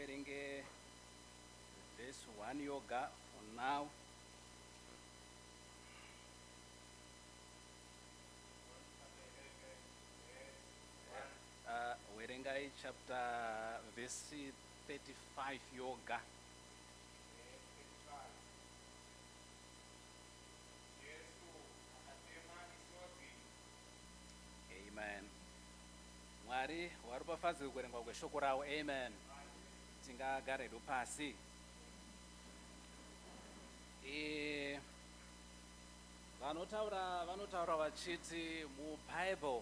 Uverenge verse one yoga for now. Uh, verengai chapter verse 35 yoga. Amen. Mwari waropafadzwe kuverengwa kweshoko rawo. Amen. Tingagare hedu pasi. E, vanotaura vanotaura vachiti mubible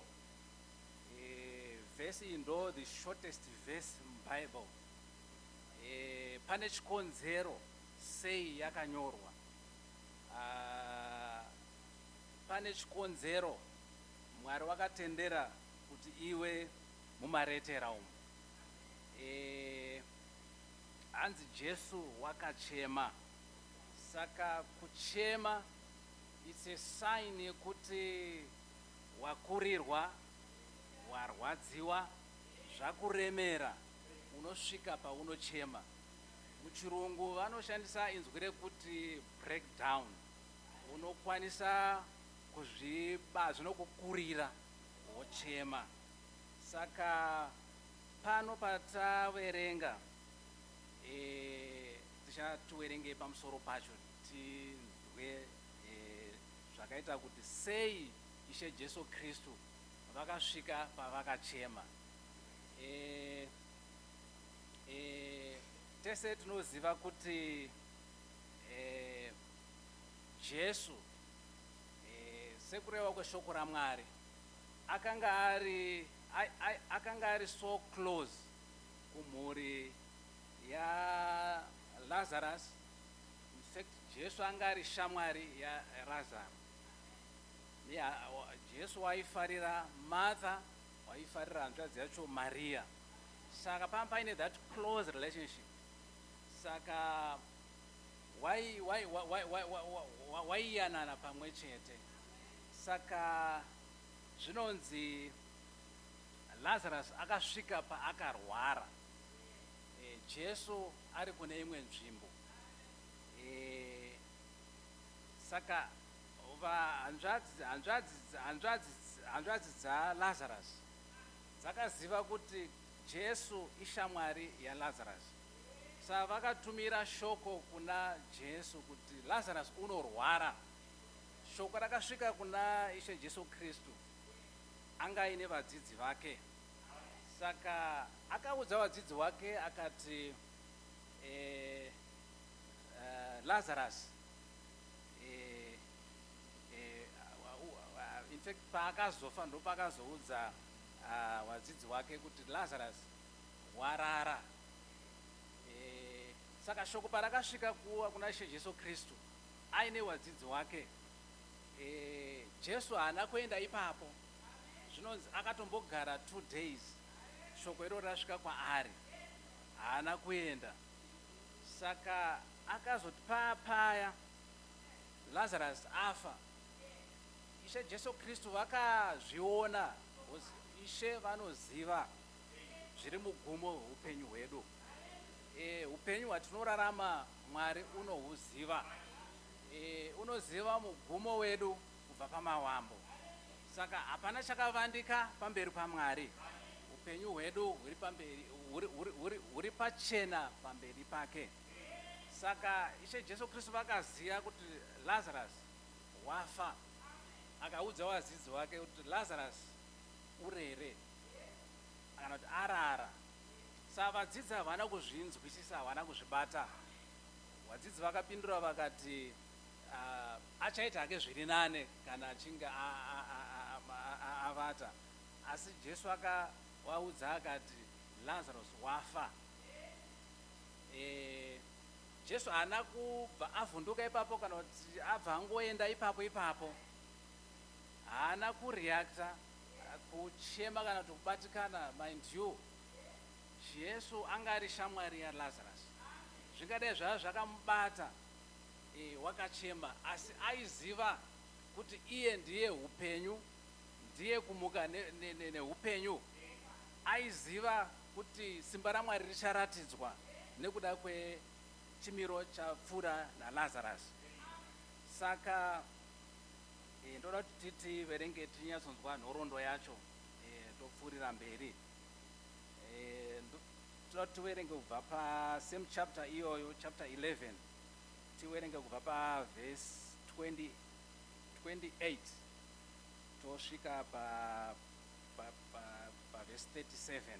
e, vhesi iyi ndo the shortest verse mubible e, pane chikonzero sei yakanyorwa uh, Pane chikonzero Mwari wakatendera kuti iwe mumaretera umu. Eh, hanzi Jesu wakachema. Saka kuchema it's a sign yekuti wakurirwa, warwadziwa, zvakuremera, unosvika paunochema. Muchirungu vanoshandisa inzwi rekuti breakdown. Unokwanisa kuzviba zvinokukurira wochema. Saka pano pataverenga e, tichativerengei pamusoro pacho tinzwe e, zvakaita kuti sei Ishe Jesu Kristu vakasvika pavakachema. E, e, tese tinoziva kuti e, Jesu, eh, sekureva kweshoko raMwari, akanga ari ai- ai- akanga ari so close kumhuri yaLazarus. In fact, Jesu anga ari shamwari yaRazaro. Yeah, wa- Jesu waifarira Martha, waifarira hanzvadzi yacho Maria. Saka pamba paine that close relationship. Saka waiyanana pamwe chete. Saka zvinonzi Lazarus akasvika paakarwara, e, Jesu ari kune imwe nzvimbo e, saka hanzvadzi dzaLazarus dzakaziva kuti Jesu ishamwari yaLazarus. Sa vakatumira shoko kuna Jesu kuti Lazarus unorwara. Shoko rakasvika kuna Ishe Jesu Kristu anga aine vadzidzi vake. Saka akaudza vadzidzi wake akati eh, eh, Lazarus eh, eh, wa- wa- wa- in fact paakazofa ndopakazoudza ah, vadzidzi wake kuti Lazarus hwarara. E, saka shoko parakasvika kuwa kuna She Jesu Kristu aine wadzidzi wake, e, Jesu haana kuenda ipapo. Zvinonzi akatombogara two days shoko iro rasvika kwaari, haana kuenda. Saka akazoti paya paya Lazarus afa, Ishe Jesu Kristu vakazviona, Ishe vanoziva. zviri mugumo hweupenyu hwedu. E, upenyu hwatinorarama Mwari unohuziva. E, unoziva mugumo wedu kubva pamawambo. Saka hapana chakavandika pamberi paMwari. Upenyu hwedu huri pamberi huri pachena pamberi pake. Saka Ishe Jesu Kristu vakaziva kuti Lazarus wafa. Akaudza wadzidzi wake kuti Lazarus urere. kana kuti arara. Sa vadzidzi havana kuzvinzwisisa, havana kuzvibata. Vadzidzi vakapindura vakati, uh, achaita hake zviri nane kana achinge avata. Asi Jesu akavaudza akati, Lazarus wafa. E, Jesu haana kubva avhunduka ipapo kana kuti abva angoenda ipapo ipapo. Haana kureacta Kuchema kana kuti kubatikana, mind you, Jesu anga ari shamwari yaLazarus. Zvingadai zvava zvakamubata e, wakachema, asi aiziva kuti iye ndiye upenyu, ndiye kumuka neupenyu. Ne, ne, ne aiziva kuti simba raMwari richaratidzwa nekuda kwechimiro chapfuura naLazarus. Saka Eh, ndoda kuti titi verenge tinyatsonzwa nhorondo yacho eh, topfuurira mberi eh, toda kuti tiverenge kubva pa same chapter iyoyo chapter 11 tiverenge kubva pa vhesi 28 tosvika pa pa pa pa vhesi 37 Verse 28.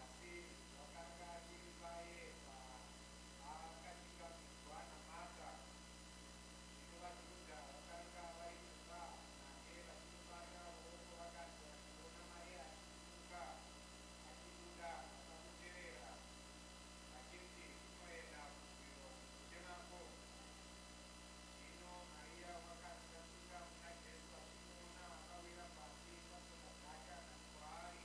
Asi zvakanga zviri paye paakasvika kunzwa naMarta zvino vaJudha vakanga vari mumba make vachimufarira ruoko vakati vachiona Mariya achisimuka achibuda vakamuterera vachiti unoenda kuhwiro kuchemako Zvino Mariya wakati asvika kuna Jesu achimuona akawira pasi patsoka dzake akati kwaari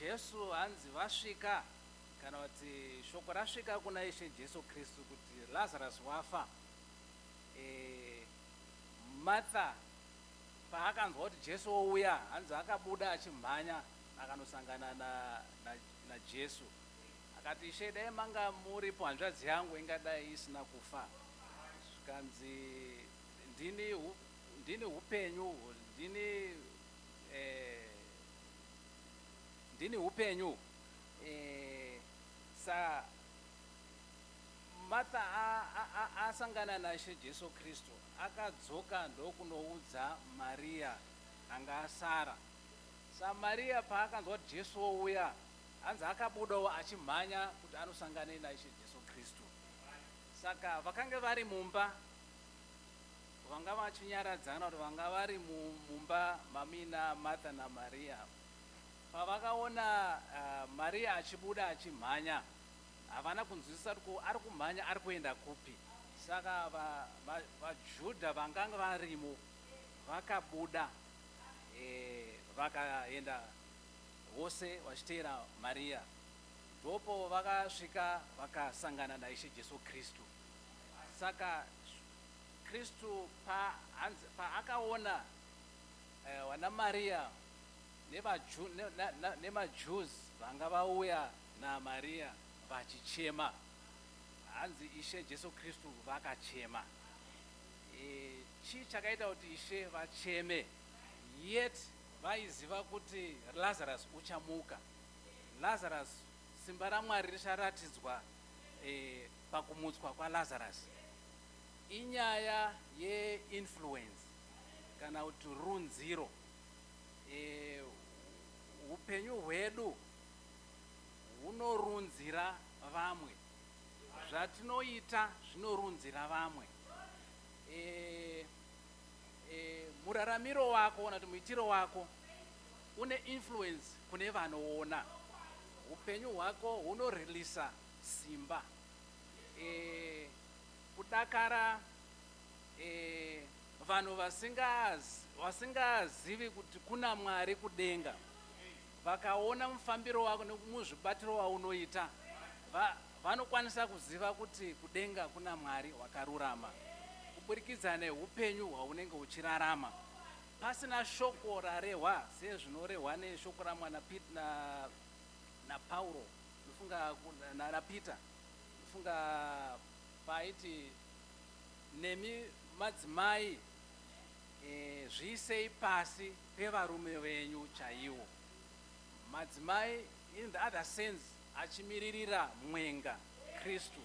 Jesu hanzi vasvika kana kuti shoko rasvika kuna Ishe Jesu Kristu kuti Lazarus wafa. Martha paakanzwa kuti Jesu ouya hanzi akabuda achimhanya akanosangana na, na, na Jesu akati Ishe dai manga muripo hanzvadzi yangu ingadai isina kufa. Zvikanzi ndini, hu, ndini hupenyu ndini Eeh ndini hupenyu uhu. Eeh sa Martha asangana naShe Jesu Kristu, akadzoka ndokunoudza Maria anga asara. Sa Maria paakanzwa kuti Jesu ouya, hanzi akabudawo achimhanya kuti anosangana naIshe Jesu Kristu. Saka vakange vari mumba. Vanga vachinyaradzana kuti vanga vari mumba mamina Martha naMaria. Pavakaona uh, Maria achibuda achimhanya, havana kunzwisisa kuti ari kumhanya ari kuenda kupi. Saka vaJudha va, va vanganga varimo vakabuda e, vakaenda vose vachiteera Maria. Ndopo vakasvika vakasangana naIshe Jesu Kristu. Saka Kristu paakaona eh, vanaMariya nemaJews vanga vauya naMariya vachichema, hanzi Ishe Jesu Kristu vakachema. Eh, chii chakaita kuti Ishe vacheme? Yet vaiziva kuti Lazarus uchamuka. Lazarus simba raMwari richaratidzwa eh, pakumutswa kwaLazarus inyaya ye influence kana kuti runziro hupenyu e, hwedu hunorunzira vamwe zvatinoita zvinorunzira vamwe e, e, muraramiro wako kana kuti muitiro wako une influence kune vanoona upenyu hwako hunorelisa Simba eh, kudakara eh, vanhu vasingazivi kuti kuna Mwari kudenga vakaona mufambiro wako nemuzvibatiro waunoita va, vanokwanisa kuziva kuti kudenga kuna Mwari wakarurama kuburikidza neupenyu hwaunenge uchirarama pasina shoko rarehwa sezvinorehwa neshoko ramwana Pete na, naPauro Ndofunga nana Peter ndofunga paaiti nemi madzimai e, zviisei pasi pevarume venyu chaiwo. Madzimai in the other sense achimiririra mwenga Kristu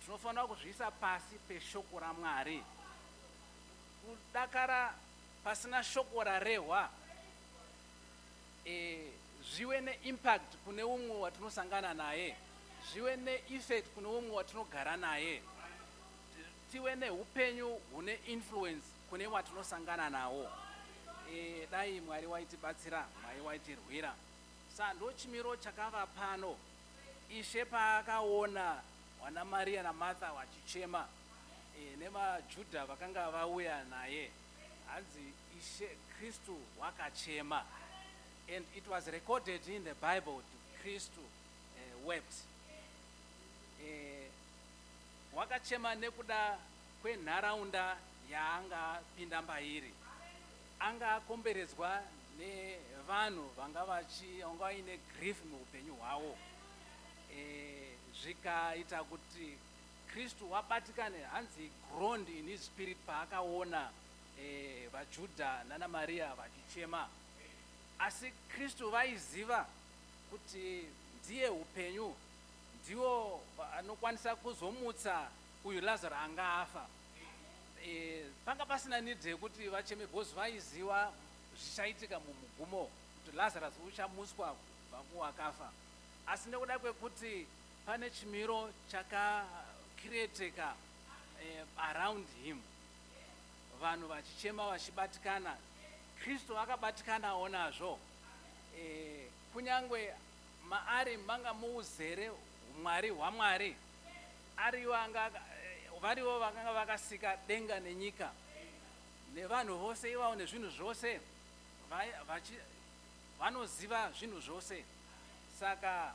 tinofanira kuzviisa pasi peshoko raMwari. Kudakara pasina shoko rarehwa zviwe neimpact kune umwe watinosangana naye, zviwe neeffect kune umwe watinogara naye, tive neupenyu hune influence kune watinosangana nawo. Eh, dai Mwari waitibatsira, Mwari waitirwira. Sa ndochimiro chakava pano. Ishe paakaona wana Maria naMartha wachichema, eh, nemaJuda vakanga vauya naye. Hanzi Ishe Kristu wakachema and it was recorded in the Bible to Kristu uh, wept. Uh, wakachema nekuda kwenharaunda yaanga pinda mbairi. Anga akomberedzwa nevanhu vanga vachi vanga vaine grief muupenyu hwawo. Eh, zvikaita kuti Kristu wabatikana hanzi he groaned in his spirit paakaona eh, vaJudha nana Maria vachichema. Asi Kristu vaiziva kuti ndiye upenyu ndiwo anokwanisa kuzomutsa uyu Lazaro anga afa. Eh, panga pasina need yekuti vacheme because vaiziva zvichaitika mumugumo kuti Lazarus uchamutswa kubva kuwakafa. Asi nekuda kwekuti Pane chimiro chaka createka eh, around him vanhu vachichema vachibatikana kristu akabatikanawo nazvo eh, kunyange maari manga muuzere umwari hwamwari ariwo anga eh, variwo vakanga vakasika denga nenyika nevanhu vose ivawo nezvinhu zvose vanoziva zvinhu zvose saka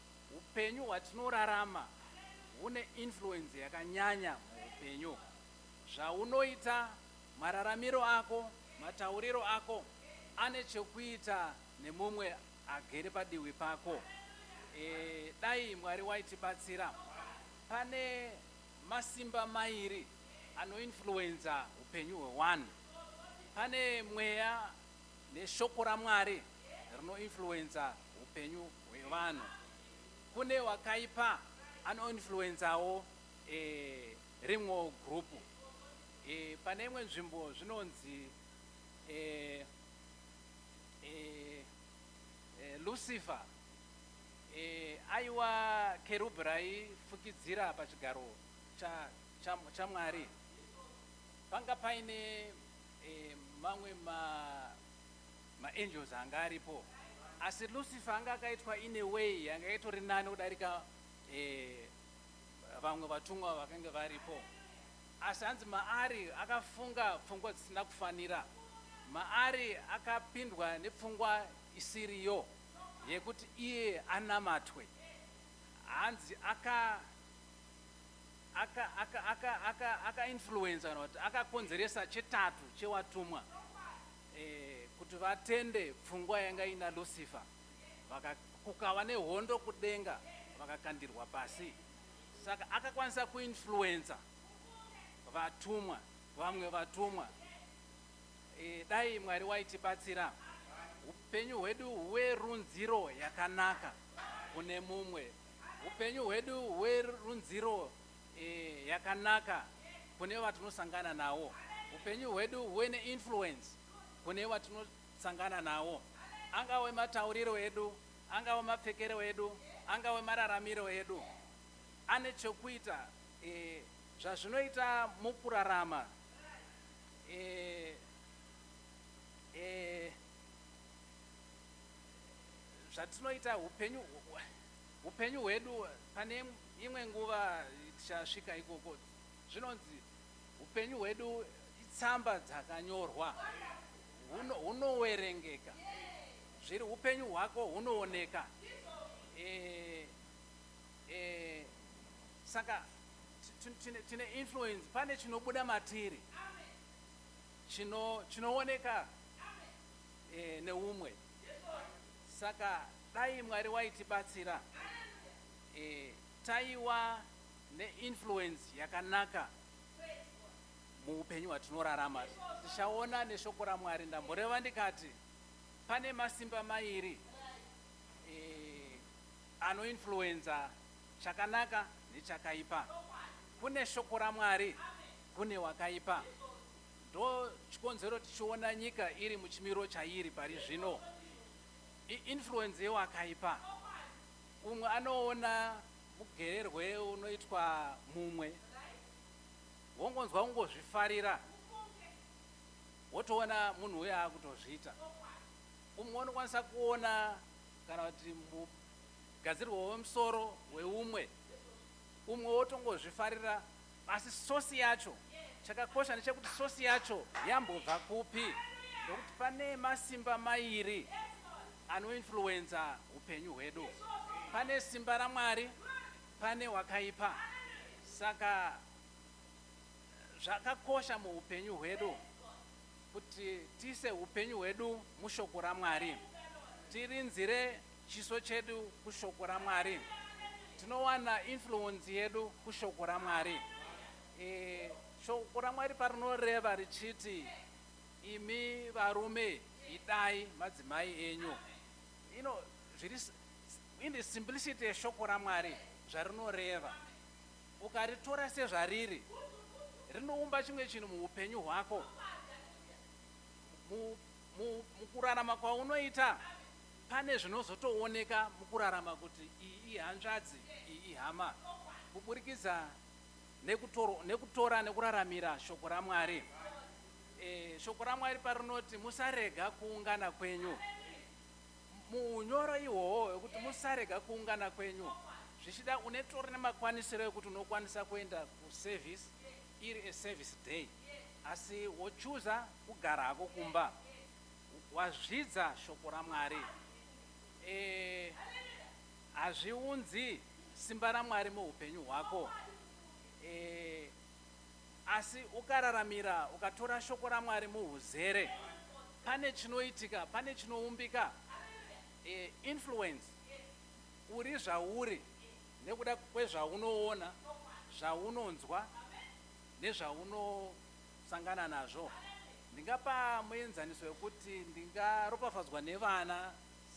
Upenyu hwatinorarama hune influence yakanyanya muupenyu. Zvaunoita, mararamiro ako, matauriro ako ane chekuita nemumwe agere padiwi pako. E, dai Mwari waitibatsira. Pane masimba mairi anoinfluenza upenyu hwewanhu. Pane mweya Neshoko raMwari rinoinfluencer hupenyu hwevanhu. Kune wakaipa anoinfluenzawo e, rimwe group. E, pane imwe nzvimbo zvinonzi e, e, e, Lucifer e, aiwa kerubhi raifukidzira pachigaro chaMwari cha, cha panga paine Eh, mamwe ma maangels anga aripo asi lucifer anga akaitwa in a way yanga yaitori nani kudarika eh, vamwe vatumwa vakange varipo asi hanzi maari akafunga pfungwa dzisina kufanira maari akapindwa nepfungwa isiriyo yekuti iye anamatwe hanzi aka akainfluenza aka, aka, aka kana kuti akakonzeresa chetatu chewatumwa eh, kuti vatende pfungwa yanga ina lucifer kukava nehondo kudenga vakakandirwa pasi saka akakwanisa kuinfluenza vatumwa vamwe vatumwa e, dai mwari waitibatsira upenyu hwedu huwe runziro yakanaka kune mumwe Upenyu hwedu hwerunziro eh, yakanaka kune vatinosangana nawo. Upenyu hwedu huve neinfluence kune vatinosangana nawo, angawe matauriro edu, angawe mapfekero edu, angawe mararamiro edu, ane chokuita eh, zvazvinoita mukurarama eh, eh, zvatinoita upenyu upenyu hwedu pane imwe nguva tichasvika ikoko zvinonzi upenyu hwedu itsamba dzakanyorwa hunowerengeka zviri upenyu hwako hunooneka eh, eh, saka tine influence pane chinobuda matiri chinooneka chino e, neumwe saka dai mwari waitibatsira e, taiwa neinfluence yakanaka muupenyu hwatinorarama tichaona neshoko ramwari ndamboreva ndikati pane masimba mairi e, anoinfluenza chakanaka nechakaipa kune shoko ramwari kune wakaipa Ndochikonzero tichiona nyika iri muchimiro chairi pari zvino iinfluence yewakaipa. Umwe anoona mugererwe unoitwa mumwe wongonzwa kungozvifarira wotoona munhu uye akutozviita. Umwe unokwanisa kuona kana kuti mugadzirwo wemusoro weumwe umwe wotongozvifarira Asi source yacho, chakakosha ndechekuti source yacho yambobva kupi? Ndokuti pane masimba mairi anoinfluenza hupenyu hwedu. Pane simba raMwari, pane wakaipa. Saka zvakakosha muhupenyu hwedu kuti tiise hupenyu hwedu mushoko raMwari, tirinzire Chiso chedu kushoko raMwari. Tinowana influence yedu kushoko raMwari. E, shoko raMwari parinoreva richiti imi varume idai madzimai enyu. You know, zviri in the simplicity yeshoko raMwari zvarinoreva. Ukaritora sezvariri rinoumba chimwe chinhu muupenyu hwako mukurarama kwaunoita Pane zvinozotooneka mukurarama kuti iyi ihanzvadzi, iyi ihama kuburikidza nekutorwa, nekutora nekuraramira Shoko raMwari. E, Shoko raMwari parinoti musarega kuungana kwenyu, muunyoro ihwohwo hwekuti musarega kuungana kwenyu, zvichida unetori nemakwanisiro ekuti unokwanisa kuenda kuservice iri a service day asi wochuza kugara hako kumba. Wazvidza shoko raMwari. Eeh hazviunzi simba raMwari muhupenyu hwako eeh asi ukararamira ukatora shoko raMwari muhuzere pane chinoitika pane chinoumbika eeh influence uri zvauri nekuda kwezvaunoona zvaunonzwa nezvauno sangana nazvo. Ndingapa muenzaniso wekuti ndingaropafadzwa nevana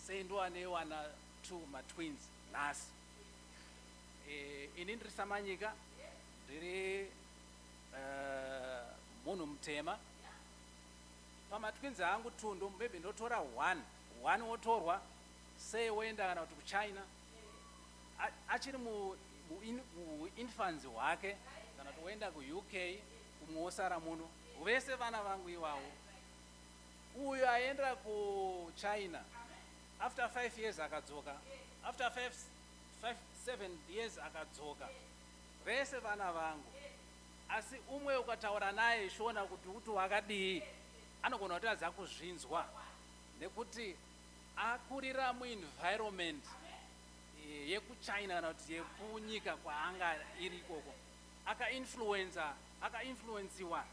sei ndova nevana two matwins nhasi. E, ini ndiri samanyika ndiri uh, munhu mutema pamatwins angu two maybe ndotora one one wotorwa sei woenda kana kuti kuchina achiri muinfanzi hwake kana kuti woenda kuuk kumwe wosara muno vese vana vangu iwawo uyo aenda kuchina after five years akadzoka after five, five, seven years akadzoka vese vana vangu asi umwe ukataura naye shona kuti uti wakadii anogona kuti adza kuzvinzwa nekuti Akurira muenvironment yekuchina kana kuti yekunyika kwaanga iri ikoko akainfluenza akainfluenziwa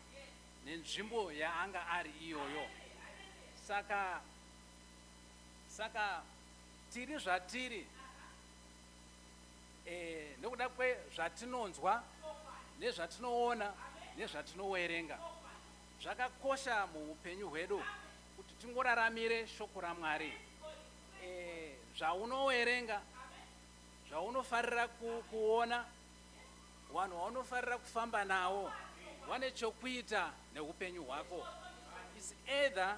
nenzvimbo yaanga ari iyoyo saka saka tiri zvatiri eh, nekuda kwezvatinonzwa nezvatinoona nezvatinowerenga zvakakosha muupenyu hwedu kuti tingoraramire shoko raMwari e, zvaunowerenga zvaunofarira ku, kuona vanhu vaunofarira kufamba nawo vane chokuita neupenyu hwako is either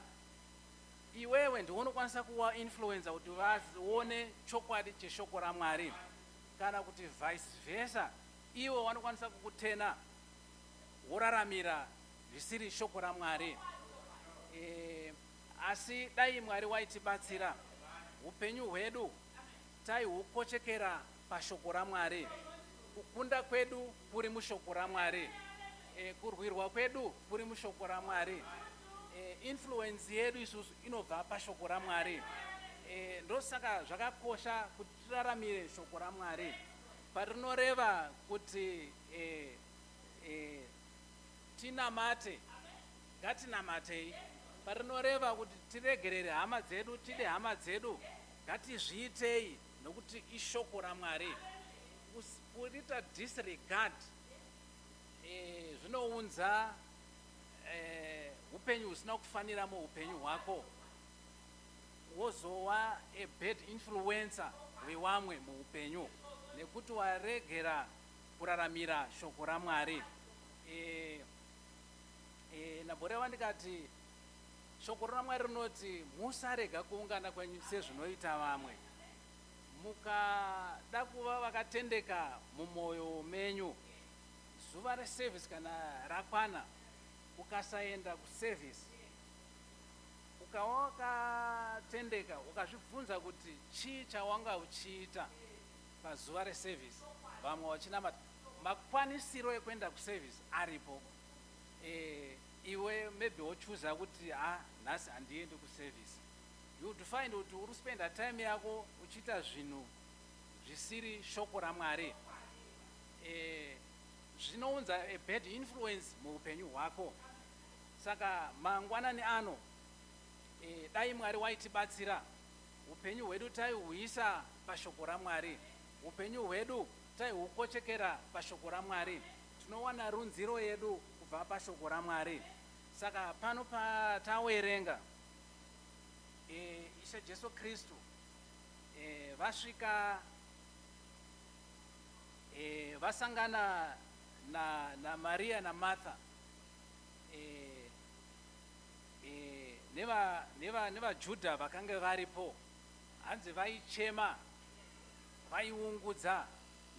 iwewe ndiwe unokwanisa kuva influencer kuti vaone chokwadi cheshoko ramwari kana kuti vice versa ivo vanokwanisa kukutena woraramira zvisiri shoko raMwari. E, asi dai Mwari waitibatsira upenyu hwedu taihukochekera pashoko raMwari. Kukunda kwedu kuri mushoko raMwari. E, kurwirwa kwedu kuri mushoko raMwari. E, influence yedu isusu inobva pashoko raMwari. E, ndosaka zvakakosha kuti tiraramire shoko raMwari. Parinoreva kuti Eh, eh, tinamate ngatinamatei parinoreva kuti tiregerere hama dzedu tide hama dzedu ngatizviitei nokuti ishoko ramwari kurita disregard eh, zvinounza eh, upenyu husina kufanira muupenyu hwako wozowa a bad influencer wewamwe muupenyu nekuti waregera kuraramira shoko raMwari. E, e, Nabhorewa ndikati shoko raMwari rinoti musarega kuungana kwenyu sezvinoita vamwe. Mukada kuva vakatendeka mumwoyo menyu zuva reservice kana rakwana ukasaenda kuservice ukawakatendeka ukazvibvunza kuti chii chawanga uchiita pazuva reservice vamwe vachinamata makwanisiro ekuenda kuservice aripo e, iwe maybe wochuza kuti ha ah, nhasi handiendi kuservice you would find kuti uri spenda time yako uchiita zvinhu zvisiri shoko ramwari e, zvinounza a bad influence muupenyu hwako saka mangwanani ano e, dai mwari waitibatsira Hupenyu hwedu taihuisa paShoko raMwari. Hupenyu hwedu taihukochekera paShoko raMwari. Tinowana runziro yedu kubva paShoko raMwari. Saka pano patawerenga, e, Ishe Jesu Kristu e, vasvika e, vasangana na, na Maria na Martha. nevaJudha vakange varipo, hanzi vaichema, vaiungudza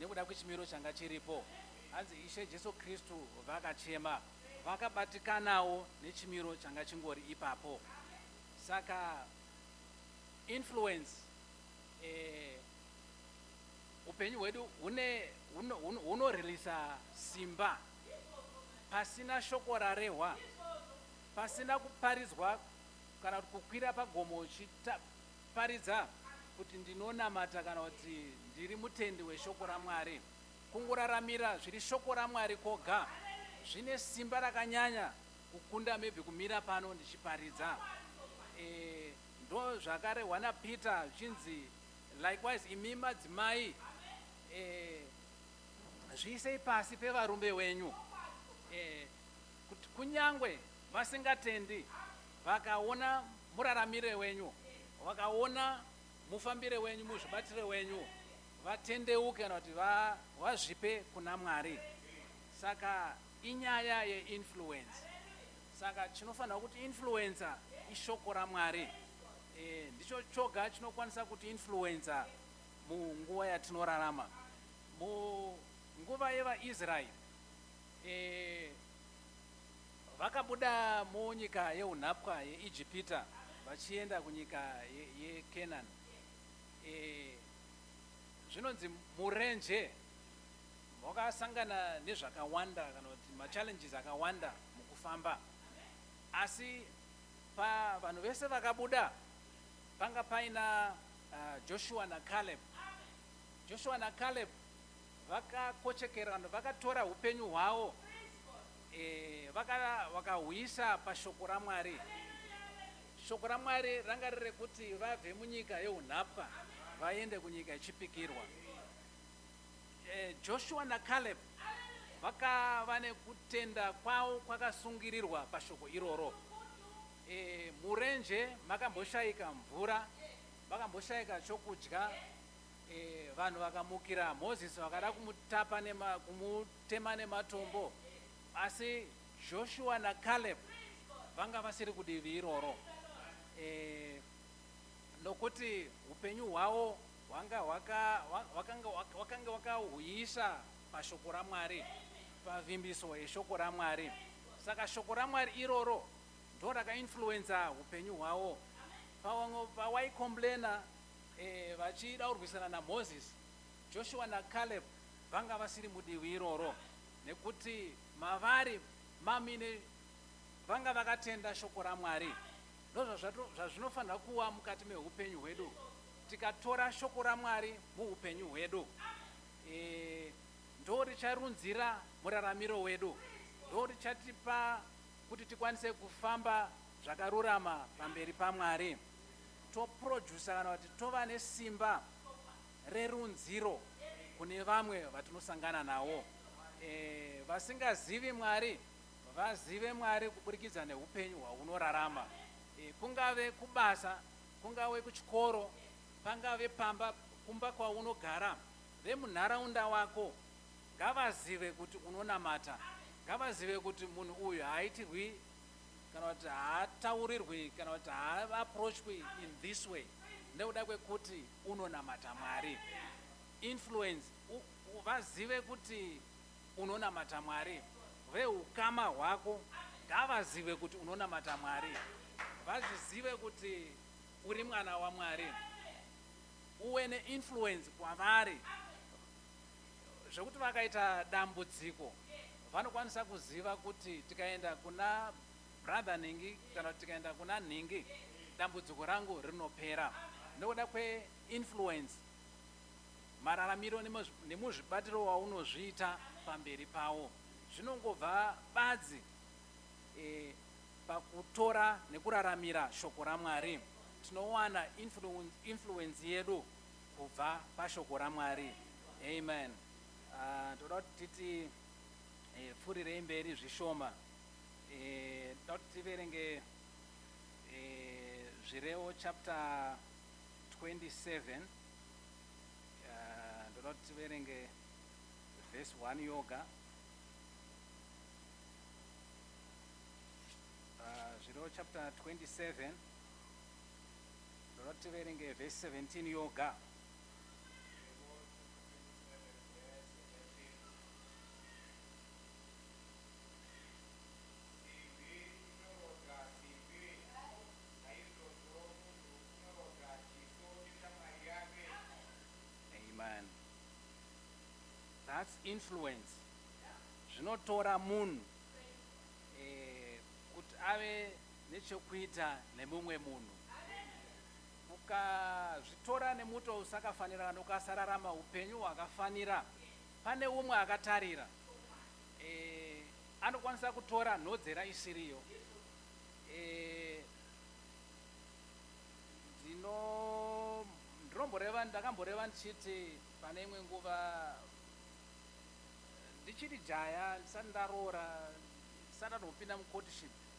nekuda kwechimiro changa chiripo. Hanzi Ishe Jesu Kristu vakachema, vakabatikanawo nechimiro changa chingori ipapo. Saka influence eh, upenyu hwedu hunoririsa simba pasina shoko rarehwa, pasina kuparidzwa kana kuti kukwira pagomo uchiparidza kuti ndinonamata kana kuti ndiri mutendi weshoko raMwari. Kungoraramira zviri shoko raMwari koga zvine simba rakanyanya kukunda maybe kumira pano ndichiparidza. Eh, ndo zvakarehwa naPeter zvichinzi likewise imi madzimai eh, Zviisei pasi pevarume wenyu. Eh, kut- kunyangwe vasingatendi vakaona muraramire wenyu vakaona mufambire wenyu muzvibatire wenyu vatendeuke kana kuti va- vazvipe kuna mwari saka inyaya yeinfluence saka chinofanira kuti influencer ishoko ramwari eh, ndicho choga chinokwanisa kuti influencer Munguva yatinorarama, munguva yevaIsraeri, e, vakabuda munyika yeunhapwa yeIjipita vachienda kunyika yeKenani. Ye e, zvinonzi murenje wakasangana nezvakawanda kana kuti machallenges akawanda mukufamba asi pavanhu vese vakabuda Panga paina uh, Joshua na Caleb. Joshua na Caleb vakakochekerana, vakatora upenyu hwawo eh, vakahwisa vaka pashoko raMwari. Shoko raMwari ranga riri kuti vabve munyika yeunhapwa vaende kunyika yechipikirwa. Eh, Joshua na Caleb vakava nekutenda kwavo kwakasungirirwa pashoko iroro. Eh, murenje makamboshaika mvura makamboshaika chokudya eh, vanhu vakamukira moses vakada kumutapa nema, kumutema nematombo asi joshua nacaleb vanga vasiri kudivi iroro eh, nokuti upenyu hwavo hwanga hwakange wakahuyisa pashoko ramwari pavimbiso yeshoko ramwari saka shoko ramwari iroro ndoraka influencer hupenyu hwawo pawamwe pawaicomplainer eh, vachida kurwisana namoses joshua nacaleb vanga vasiri mudivi iroro nekuti mavari mamine vanga vakatenda shoko ramwari ndozvazvinofanira kuwa mukati mehupenyu hwedu tikatora shoko ramwari muupenyu hwedu eh, ndo richarunzira muraramiro wedu ndo richatipa Kuti tikwanise kufamba zvakarurama pamberi paMwari, toprojusa kana kuti tova nesimba rerunziro kune vamwe vatinosangana nawo. E, vasingazivi Mwari vazive Mwari kuburikidza neupenyu hwaunorarama. E, kungave kubasa, kungave kuchikoro, pangave pamba, kumba kwaunogara, vemunharaunda wako ngavazive kuti unonamata, ngavazive kuti munhu uyu haaitirwi kana kuti haataurirwi kana kuti haaapproachwi in this way nekuda kwekuti unonamata Mwari. Influence, u, u, vazive kuti unonamata Mwari. Vehukama hwako ngavazive kuti unonamata Mwari, vazvizive kuti uri mwana waMwari, uwe neinfluence kwavari. zvekuti vakaita dambudziko vanokwanisa kuziva kuti tikaenda kuna brother nhingi kana kuti tikaenda kuna nhingi dambudziko rangu rinopera nokuda kweinfluence mararamiro nemuzvibatiro waunozviita pamberi pawo zvinongobva badzi e, pakutora nekuraramira shoko ramwari tinowana influence yedu kubva pashoko raMwari. Amen. Uh, toda kuti titi eh, pfurirei mberi zvishoma eh, toda kuti tiverenge eh, zvirevo chapter 27 ndoda kuti tiverenge vhesi 1 yoga uh, zvirevo chapter 27 Ndoda kuti tiverenge vhesi 17 yoga. that's influence zvinotora munhu eh, kuti ave nechokuita nemumwe munhu. Ukazvitora nemuto usakafanira kana ukasararama upenyu hwakafanira, pane umwe akatarira e, anokwanisa kutora nhodzera isiriyo. E, ndino ndinomboreva ndakamboreva ndichiti pane imwe nguva ndichiri jaya ndisati ndaroora ndisati anopinda mucourtship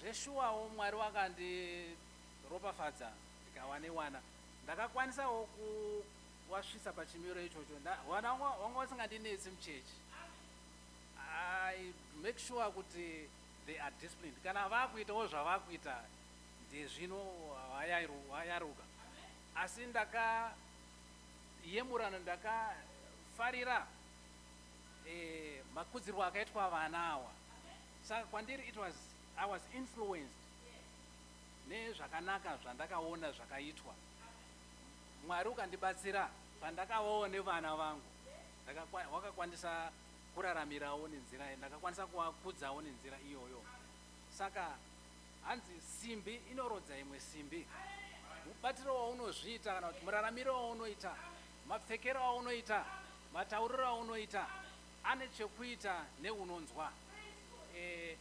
Zveshuwawo Mwari wakandiropafadza ndikawane wana. Ndakakwanisawo kuwasvitsa pachimiro ichocho. Nda, wana wanga, wanga wasingandinetsi muchechi. I make sure kuti they are disciplined. Kana vakuitawo zvavakuita ndezvino wayaruka. Asi ndakayemurana ndakafarira eh, makudzirwo akaitwa vana awa. Saka kwandiri it was I was influenced nezvakanaka zvandakaona zvakaitwa Mwari ukandibatsira pandakavawo nevana vangu wakakwanisa kuraramirawo nenzira iyo ndakakwanisa kuvakudzawo nenzira iyoyo saka hanzi simbi inorodza imwe simbi mubatiro waunozviita kana kuti muraramiro waunoita mapfekero aunoita matauriro aunoita Ane chekuita neunonzwa. Eh,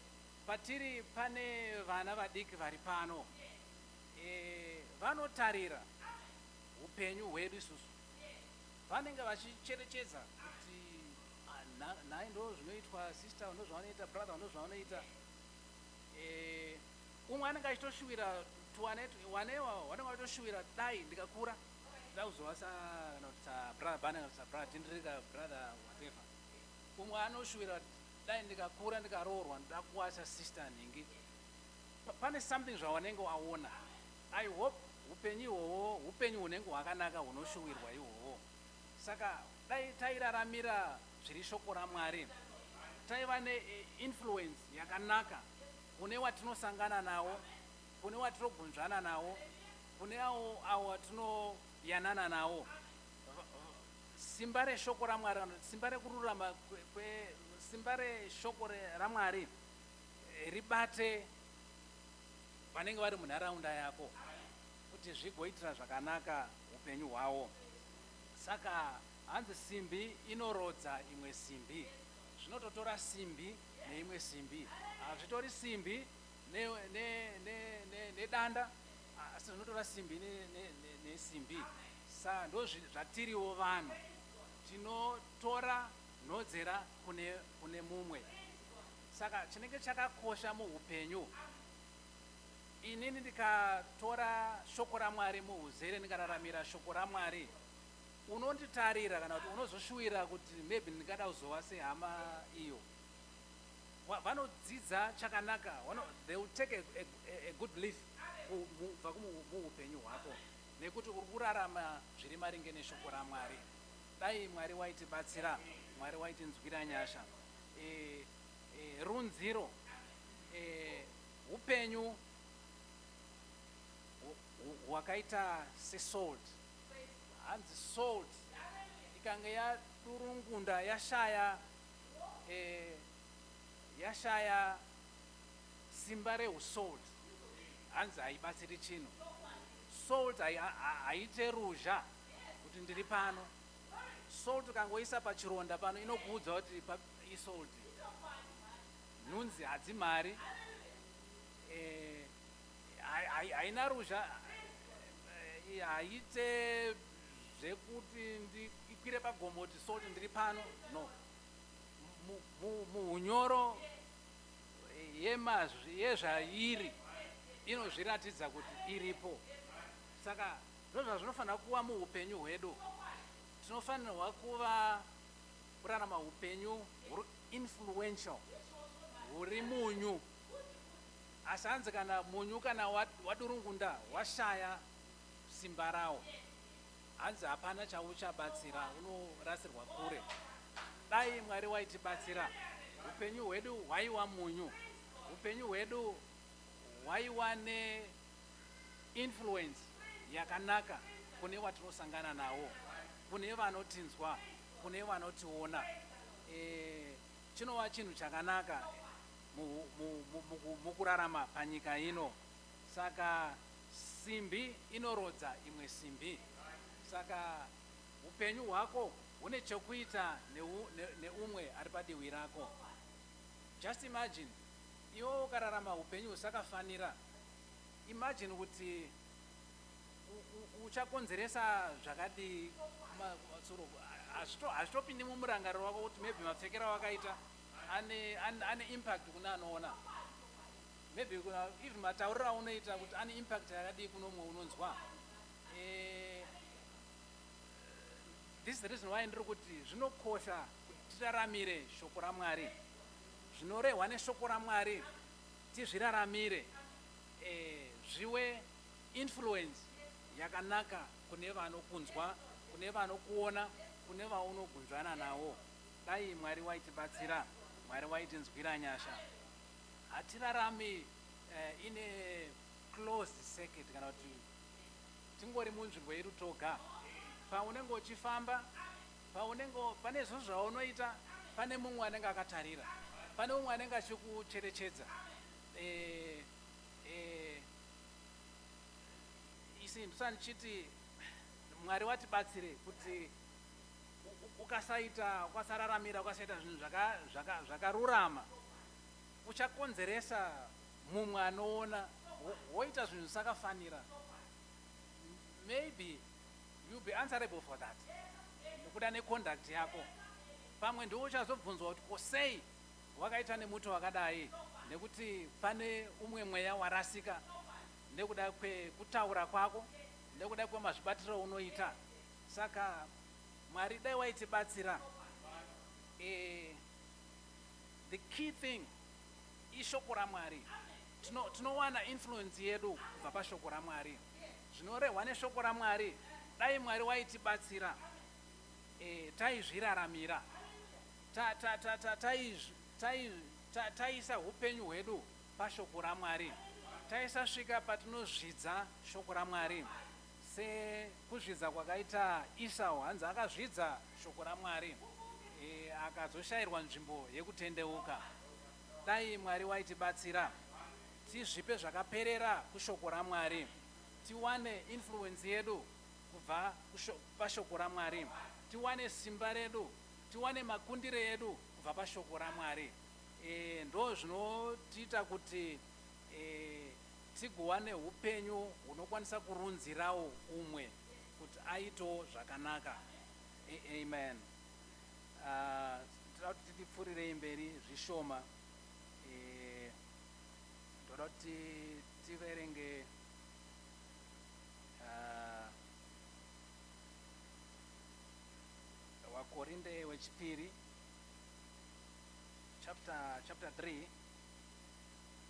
patiri pane vana vadiki vari pano. Eh, vanotarira upenyu hwedu isusu. Vanenge vachicherechedza kuti ah, na- nhai ndo zvinoitwa sister ndo zvavanoita brother ndo zvavanoita. Eh, umwe anenge achitoshuwira tuwane wanewa wanenge achitoshuwira dai ndikakura. Ndakuzova sa kana kuti sa brother bana kana kuti sa brother tendere ka brother whatever. Umwe anoshuvira dai ndikakura ndikaroorwa ndoda kuva sa sister nhingi. Pa- Pane something zvawanenge waona. I hope upenyu ihwohwo upenyu hunenge hwakanaka hunoshuwirwa ihwohwo. Saka dai tairaramira zviri shoko raMwari taiva ne eh, influence yakanaka kune watinosangana nawo kune watinogunzvana nawo, kune awo awo atinoyanana nawo. Simba reshoko raMwari, simba rekururama, simba reshoko raMwari ribate vanenge vari munharaunda yako kuti zvigoitira zvakanaka upenyu hwawo. Saka hanzi simbi inorodza imwe simbi, zvinototora simbi neimwe simbi, hazvitori simbi nedanda ne, ne, ne ah, asi zvinotora simbi nesimbi ne, ne, ne sa ndo zvatiriwo vanhu tinotora nhodzera kune, kune mumwe saka chinenge chakakosha muupenyu inini ndikatora shoko ramwari muuzere ndikararamira shoko ramwari unonditarira kana kuti unozoshuwira kuti maybe ndingada kuzova sehama iyo vanodzidza chakanaka they will take a, a, a good leaf kubva muupenyu hwako nekuti uri kurarama zviri maringe neshoko ramwari dai mwari waitibatsira mwari waitinzwira nyasha e, e, runziro e, upenyu hwakaita sesalt hanzi salt ikanga yadurungunda yashaya eh, yashaya simba rehusalt hanzi haibatsiri chinhu salt haite ruzha kuti ndiri pano salt ukangoisa pachironda pano inokuudza kuti isalt nhunzi hadzimari eh, haina ruzha eh, haite zvekuti ndikwire pagomo kuti so kuti ndiri pano no muhunyoro yemazwi yezvairi inozviratidza kuti iripo saka ndozva zvinofanira kuva muupenyu hwedu tinofanirwa kuva kurarama upenyu huri influential huri munyu asi hanzi kana munyu kana wadurungunda washaya simba rawo hanzi hapana chauchabatsira unorasirwa kure dai mwari waitibatsira upenyu hwedu hwaiwa munyu upenyu hwedu hwaiwa neinfluence yakanaka kune watinosangana nawo kune vanotinzwa kune vanotiona e, chinova chinhu chakanaka mukurarama panyika ino Saka simbi inorodza imwe simbi. Saka upenyu hwako hune chokuita neu, ne, neumwe ari padiwi rako. Just imagine iwe ukararama upenyu husakafanira. Imagine kuti uchakonzeresa zvakadii kumatsuro hazvitopindi mumurangariro wako kuti maybe mapfekero wakaita ane, ane, ane impact kune anoona Maybe kuna even matauriro aunoita kuti ane impact yakadii kuno umwe unonzwa. Eh, this is the reason why ndiri kuti zvinokosha kuti tiraramire shoko raMwari. Zvinorehwa neshoko raMwari tizviraramire eh, zviwe influence yakanaka kune vanokunzwa, kune vanokuona, kune vaunogunzvana nawo. Dai Mwari waitibatsira, Mwari waitinzwira nyasha. Hatirarami uh, in a closed circuit kana kuti tingori munzvimbo yedu toga. Paunenge uchifamba, paunenge pane zvinhu zvaunoita, pane mumwe anenge akatarira, pane mumwe anenge achikucherechedza. Eh, eh, isi ndisandichiti Mwari watibatsire kuti ukasaita ukasararamira ukasaita zvinhu zvakarurama zvaka, zvaka uchakonzeresa mumwe anoona woita zvinhu zvisakafanira maybe you'll be answerable for that nekuda neconduct yako pamwe ndiwo uchazobvunzwa kuti ko sei wakaita nemuti wakadai nekuti pane umwe mweya warasika nekuda kwekutaura kwako nekuda kwemazvibatiro unoita saka mwari dai waitibatsira e, The key thing ishoko raMwari. Tino, tinowana influence yedu kubva pashoko raMwari. Zvinorehwa neshoko raMwari, dai Mwari waitibatsira e, taizviraramira taisa upenyu hwedu pashoko raMwari, taisasvika patinozvidza shoko raMwari. Sekuzvidza kwakaita Esau, hanzi akazvidza Shoko raMwari, akazoshairwa nzvimbo yekutendeuka. Dai Mwari waitibatsira tizvipe zvakaperera kuShoko raMwari, tiwane influence yedu kubva paShoko raMwari, tiwane simba redu, tiwane makundire edu kubva paShoko raMwari. Ndozvinotiita kuti Tigowane hupenyu hunokwanisa kurunzirawo umwe kuti aitewo zvakanaka. Amen. Ah, toda kuti titipfurirei mberi zvishoma. Eh, toda kuti tiverenge ah, wakorinde wechipiri chapter chapter 3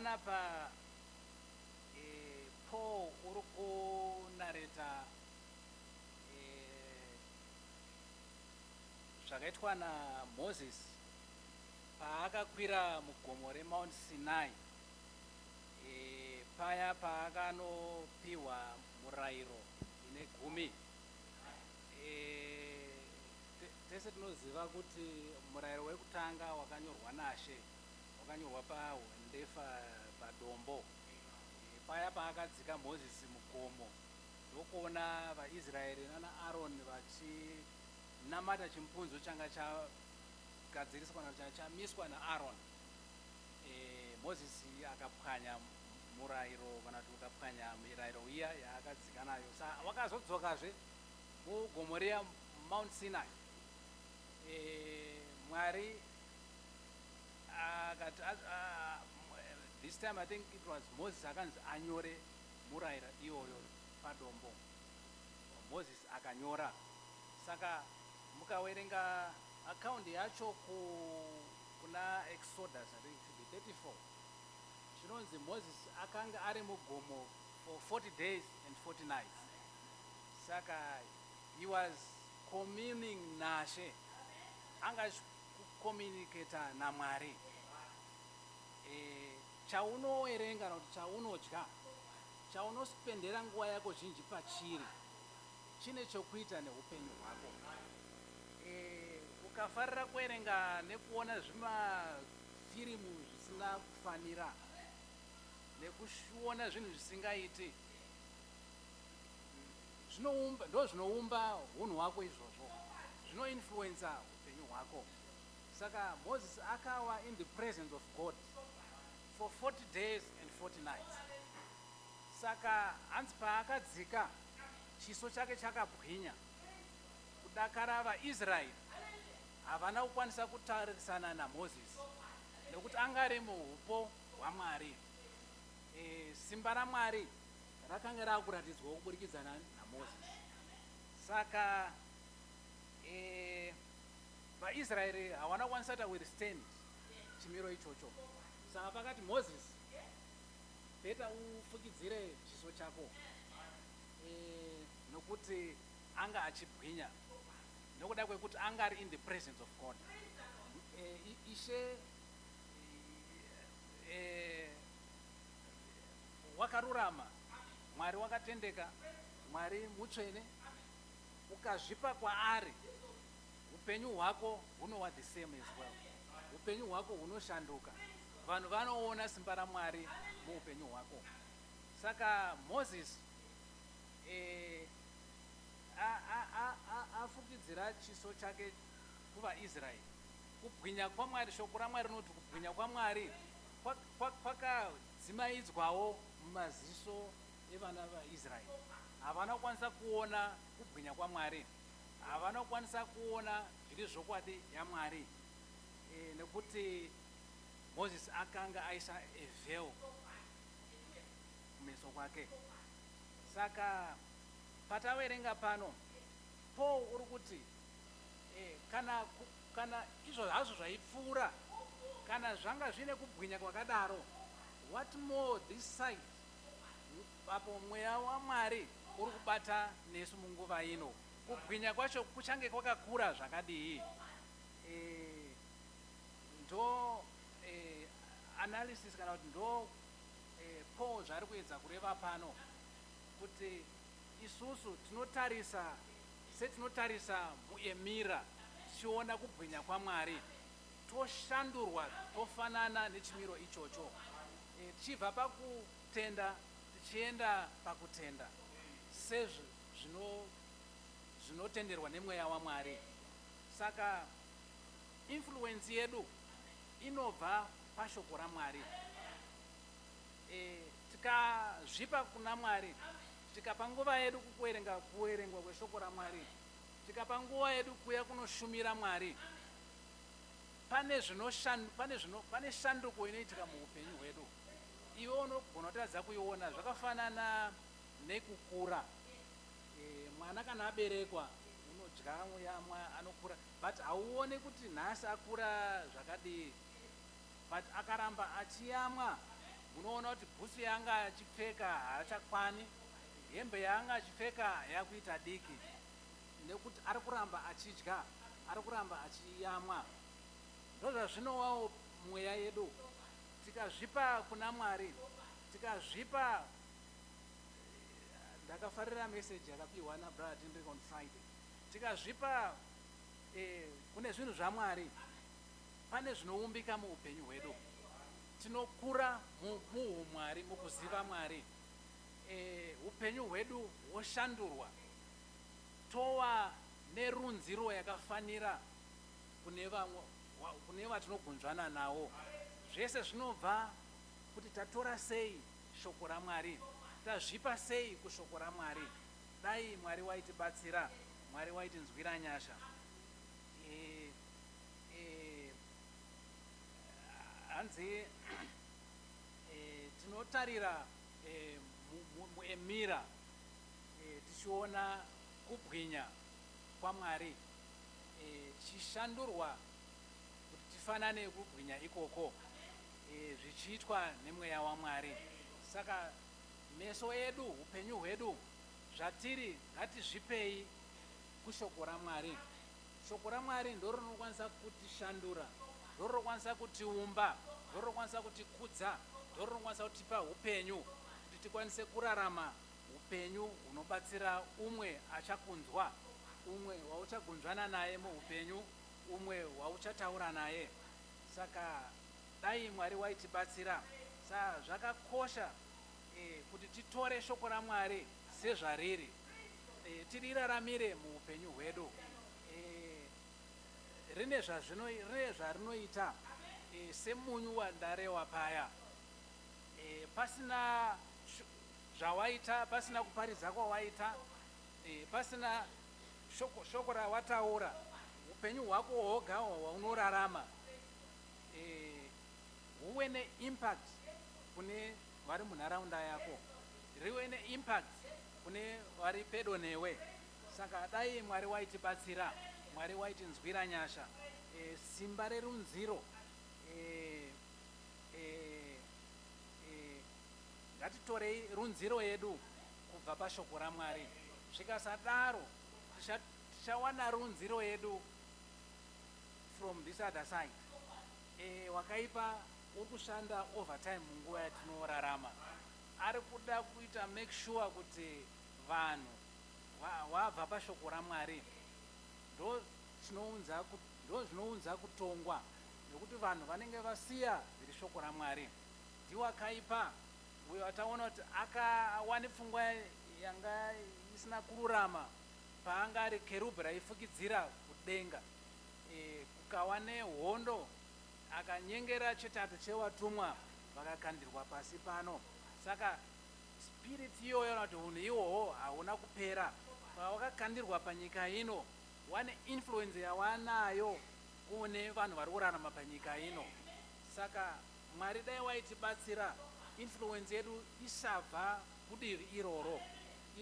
panapa eh, paul uri kunareta eh, zvakaitwa namoses paakakwira mugomo remount sinai eh, paya paakanopiwa murayiro ine gumi tese tinoziva kuti murayiro wekutanga wakanyorwa nashe wakanyorwa pahwendefa padombo eh, paya paakadzika mozisi mugomo ndokuona vaisraeri nana aroni vachinamata chimupunzo changa chagadziriswa chamiswa naaroni eh, mozisi akapwanya murairo kana kuti ukapwanya mirairo iya yaakadzika nayo sa wakazodzokazve mugomo riya mount sinai e, mwari akati this time i think it was moses akanzi anyore muraira iyoyo padombo moses akanyora saka mukawerenga akaundi yacho ku kuna exodus i think 34 Zvinonzi Moses akanga ari mugomo for 40 days and 40 nights saka he was communing naShe anga achicommunicator naMwari. Eh, chaunowerenga kana kuti chaunodya, chaunospendera nguva yako zhinji pachiri chine chokuita neupenyu hwako. Eh, ukafarira kuwerenga nekuona zvima firimu zvisingakufanira nekuona zvinhu zvisingaiti zvinoumba ndo zvinoumba hunhu hwako izvozvo zvinoinfluensa upenyu hwako saka moses akawa in the presence of god for 40 days and 40 nights saka hanzi paakadzika chiso chake chakabwinya kudakara vaisraeri Havana kukwanisa kutarisana naMozisi nekuti anga ari muhupo hwaMwari. E, simba raMwari rakanga rakuratidzwawo kuburikidza naMozisi. Saka e, vaIsraeri hawana kukwanisa ta will stand chimiro ichocho. Saka pakati Mozisi, beta ufukidzire chiso chako e, nokuti anga achibwinya. nekuda kwekuti anga ari in the presence of god eh, ishe eh, wakarurama mwari wakatendeka mwari mutsvene ukazvipa kwaari upenyu hwako hunowa the same as well upenyu hwako hunoshanduka vanhu vanoona simba ramwari muupenyu hwako saka moses eh, Afukidzira chiso chake kuvaIsraeri. Kubwinya kwaMwari, Shoko raMwari rinoti kubwinya kwaMwari kwakadzimaidzwawo mumaziso evana vaIsraeri. Havana kukwanisa kuona kubwinya kwaMwari. Havana kukwanisa kuona zviri zvokwadi yaMwari e, nekuti Moses akanga aisa evheo kumeso kwake saka Pataverenga pano, Paul uri kuti, eh, kana, kana izvo hazvo zvaipfuura, kana zvanga zviine kubwinya kwakadaro, what more this side, apo mweya waMwari uri kubata nesu munguva ino, kubwinya kwacho kuchange kwakakura zvakadii? Eh, ndo eh, analysis kana kuti ndo eh, Paul zvaari kuedza kureva pano. kuti isusu tinotarisa setinotarisa muemira tichiona kubwinya kwaMwari toshandurwa tofanana nechimiro ichocho e, tichibva pakutenda tichienda pakutenda sezvo zvino zvinotenderwa nemweya waMwari saka influence yedu inobva pashoko raMwari tikazvipa kuna mwari tikapa nguva yedu kukuerenga kuerengwa kweshoko ramwari tikapa nguva yedu kuya kunoshumira mwari pane pane shanduko inoitika muupenyu hwedu iwe unogona kutadza kuiona zvakafanana nekukura e, mwana kana aberekwa unodya yamwa anokura but hauone kuti nhasi akura zvakadii but akaramba achiyamwa munoona kuti bhutsu yaanga achipfeka haachakwani hembe yaanga achipfeka yakuita diki nekuti ari kuramba achidya ari kuramba achiyamwa ndozvazvinowawo mweya yedu tikazvipa kuna mwari tikazvipa ndakafarira message yakapiwa nabrother tendrek on friday tikazvipa eh, kune zvinhu zvamwari Pane zvinoumbika muupenyu hwedu. Tinokura muhumwari, mukuziva Mwari. Hupenyu hwedu hwoshandurwa tova nerunziro yakafanira kune vatinogunzvana navo. Zvese zvinobva kuti tatora sei Shoko raMwari, tazvipa sei kuShoko raMwari. Dai Mwari waitibatsira, Mwari waitinzwira nyasha. Eh, hanzi eh, tinotarira eh, mu- mu- muemira eh, tichiona kubwinya kwamwari eh, tichishandurwa kuti tifanane kubwinya ikoko eh, zvichiitwa nemweya wamwari saka meso edu upenyu hwedu zvatiri ngatizvipei kushoko ramwari Shoko raMwari ndiro rinokwanisa kutishandura, ndiro rinokwanisa kutiumba, ndiro rinokwanisa kutikudza, ndiro rinokwanisa kutipa upenyu kuti tikwanise kurarama upenyu hunobatsira umwe achakunzwa, umwe wauchagunzvana naye muupenyu, umwe wauchataura naye. Saka dai Mwari waitibatsira. Saka zvakakosha eh, kuti titore shoko raMwari sezvariri eh, tiriraramire muupenyu hwedu eh, rine zvazvino rine zvarinoita eh, semunyu wandarewa paya eh, pasina zvawaita pasina kuparidza kwawaita eh, pasina shoko, shoko rawataura upenyu hwako hwoga hwaunorarama eh, huwe neimpact kune vari munharaunda yako rive neimpact kune vari pedo newe saka dai mwari waitibatsira mwari waitinzwira nyasha e, simba rerunziro e, e, e, ngatitorei runziro yedu kubva pashoko ramwari zvikasadaro tichawana runziro yedu from this other side e, wakaipa uri kushanda overtime munguva yatinorarama ari kuda kuita make sure kuti vanhu wabva pashoko raMwari ndozvinounza kutongwa nekuti vanhu vanenge vasiya zviri shoko raMwari ndiwo akaipa uyo ataona kuti akawane pfungwa yanga isina kururama paanga ari kerubhi raifukidzira kudenga e, kukawa nehondo Akanyengera chetatu chevatumwa vakakandirwa pasi pano. Saka spirit iyoyo kana kuti hunhu ihwohwo hauna kupera. Pawakakandirwa panyika ino, wane influence yawanayo kune vanhu vari kurarama panyika ino. Saka Mwari dai waitibatsira influence yedu isabva kudivi iroro.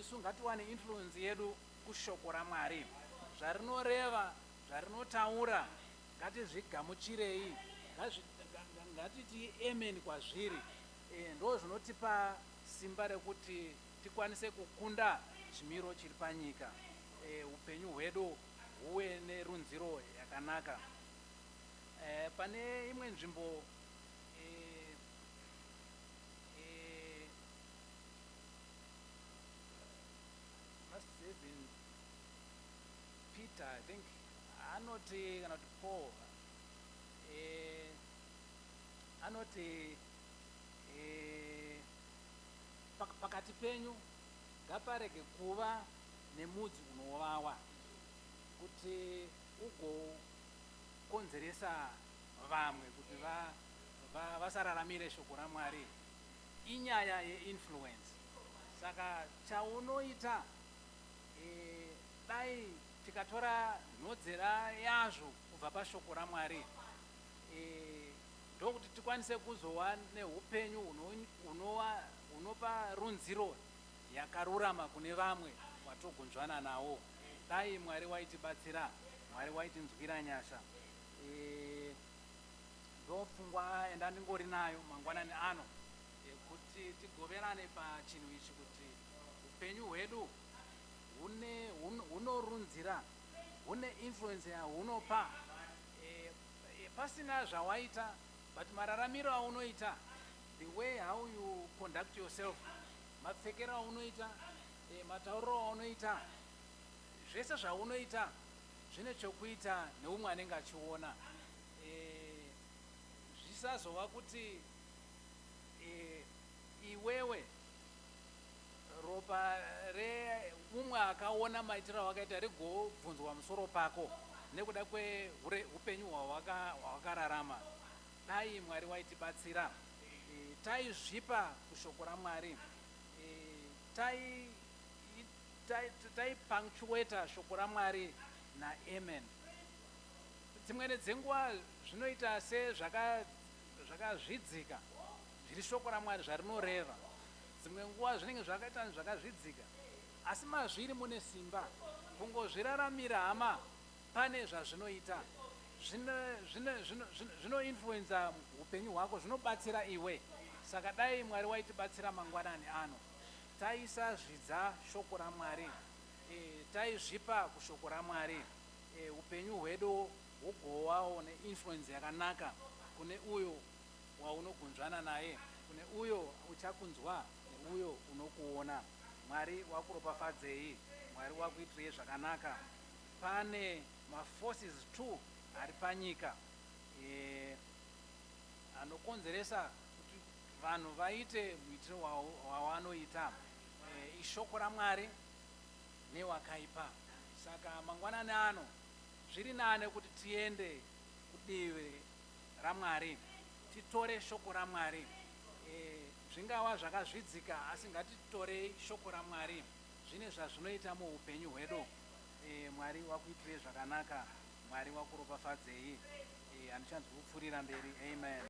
Isu ngatiwane influence yedu kuShoko raMwari. Zvarinoreva, zvarinotaura, Ngatizvigamuchirei, ngatiti amen kwazviri. Ndozvinotipa simba rekuti tikwanise kukunda chimiro chiri panyika, upenyu hwedu huve nerunziro yakanaka. Pane imwe nzvimbo Peter I think anoti kana kuti Paul eh, anoti eh, pak pakati penyu ngaparege kuva nemudzi unovawa kuti ugokonzeresa vamwe kuti va, va, vasararamire shoko ramwari inyaya yeinfluence saka chaunoita eh, Dai tikatora nhodzera yazvo kubva paShoko raMwari, ndokuti tikwanise kuzova neupenyu hunopa runziro yakarurama kune vamwe vatogunzvana navo. Dai Mwari waitibatsira. Mwari waitinzwira nyasha. Ndopfungwa yandandingori nayo mangwanani ano, kuti tigoverane pachinhu ichi, kuti upenyu hwedu hune hun- hunorunzira hune influence yahunopa eh, eh, pasina zvawaita but mararamiro aunoita the way how you conduct yourself mapfekero aunoita eh, matauriro aunoita zvese zvaunoita zvine chokuita neumwe anenge achiona eh, zvisazova kuti eh, iwewe Ropa re umwe akaona maitiro awakaita rigobvunzwa musoro pako nekuda kwe hure upenyu hwawaka hwawakararama dai Mwari waitibatsira e, taizvipa kushoko raMwari e, tai tai tai punctuator shoko raMwari na amen dzimwene dzenguva zvinoita se zvaka zvakazvidzika zviri shoko raMwari zvarinoreva Dzimwe nguva zvinenge zvakaita kunge zvakazvidzika asi mazviri mune simba kungozviraramira hama pane zvazvinoita zvino zvino zvino zvino zvino influenza hupenyu hwako zvinobatsira iwe saka dai Mwari waitibatsira mangwanani ano taisa zvidza shoko raMwari e, taizvipa kushoko raMwari e, hupenyu hwedu hwogowawo neinfluenza yakanaka kune uyo waunogunzvana naye, kune uyo uchakunzwa neuyo unokuona. Mwari wakuropafadzei. Mwari wakuitirei zvakanaka. Pane ma forces two ari panyika eh, anokonzeresa kuti vanhu vaite muitiro wawanoita eh, ishoko raMwari newakaipa. Saka mangwanani ano zviri nane kuti tiende kudivi raMwari, titore Shoko raMwari. E, zvingava zvakazvidzika, asi ngatitorei Shoko raMwari. Zvine zvazvinoita muupenyu hwedu. E, Mwari wakuitirei zvakanaka. Mwari wakuropafadzei. E, handichanzwi kupfuurira mberi. Amen.